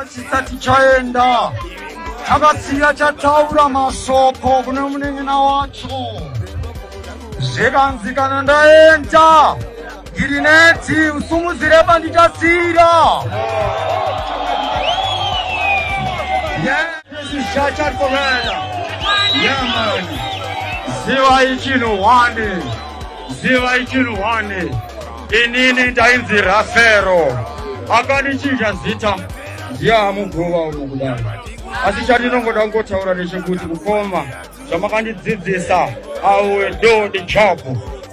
chisati chaenda chakasiya chataura masoko kune munin'ina wacho zvikanzi kana ndaenda Ndiri nedzi usumudzire pandichasira. Ziva ichinhu wani, ziva ichinhu wani. Inini ndainzi Rafero, akandichinja zita ndiye amuguva uno kudai, asi chandinongoda kungotaura ndechekuti kukoma zvamakandidzidzisa i will do the job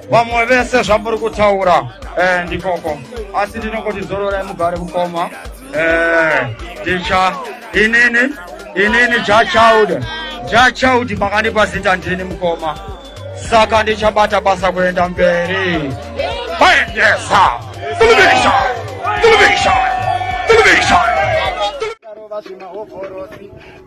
vamwe vese zvamuri kutaura eh, ndikoko asi ndinongoti zororai mugare mukoma eh, ndicha inini inini jachild jachild makandipa zita ndini mukoma saka ndichabata basa kuenda mberi kuendesa television television television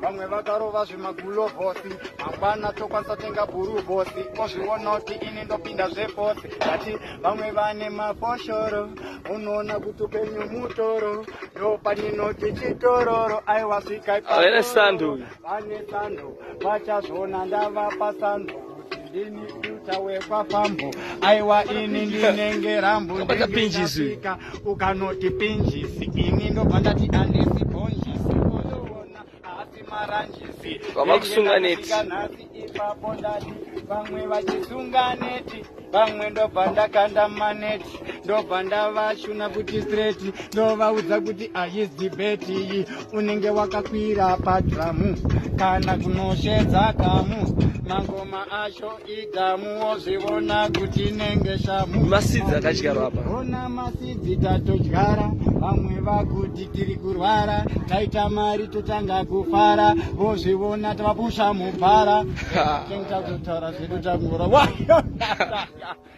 vamwe vakarova zvemagulo vosi mangwana tokwanisa tenga bhuru vosi ozvionoti ini ndopinda zvefosi ati vamwe vane mafoshoro unoona kuti upenyu mutoro ndopaninoti chitororo aiwasvika vane sando vachazvona ndavapa sando Ndini tuta wekwafambo aiwa ini ndinenge rambo Ukabata pinjisi. ndingasvika. ukanoti pinjisi ini ndobva ndati andisi bhonjisi ozviona asi maranjisi Vava kusunga neti. Ndingasvika nhasi ipapo ndati vamwe vachisunga neti vamwe ndobva ndakanda maneti ndobva ndavashuna kuti straight ndovaudza kuti ayis debate iyi unenge wakakwira padhamu kana kunoshedza kamu mangoma acho idhamu wozvivona kuti inenge shamu masidzi akadyarwa apa ona masidzi tatodyara vamwe vakuti tiri kurwara taita mari totanga kufara vozvivona tavapusha mubhara tengita kutaura zvedu takungora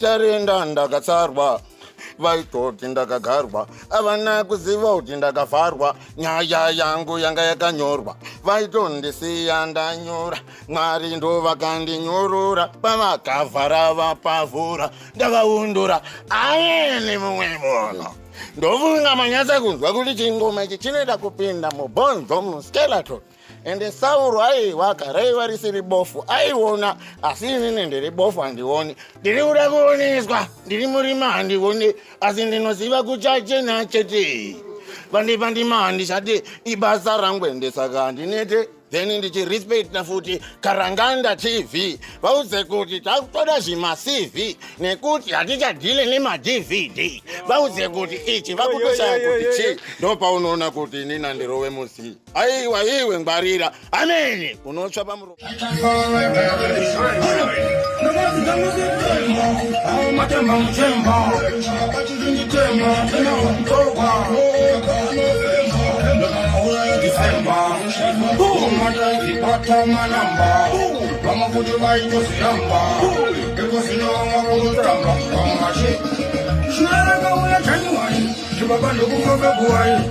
Tarinda ndakatsarwa vaitoti ndakagarwa avana kuziva kuti ndakavharwa nyaya yangu yanga yakanyorwa vaitondisiya ndanyura mwari ndo vakandinyorora pavakavhara vapavhura ndavaundura ayeni mumwe munhu ndofunga manyatsa kunzwa kuti chingoma ichi chinoita kupinda mubonzo muskeleton ende sauro aiwaka raiva risiri bofu aiona asi inini ndiri bofu handioni ndiri kuda kuoneswa ndiri murima handioni asi ndinoziva kuchachena chete pandipandima handichati ibasa rangu ende saka handinete then ndichirespecta futi karanganda tv vauze kuti takutoda zvimacv nekuti hatichadhile nemadvd vauze kuti ichi vakutoshaya kuti chii ndopaunoona kuti inini handirove musii aiwa iwe ngwarira amene unotsva pamuromo Shwara kaula chanyuwai, chibaba ndokufa kaguwai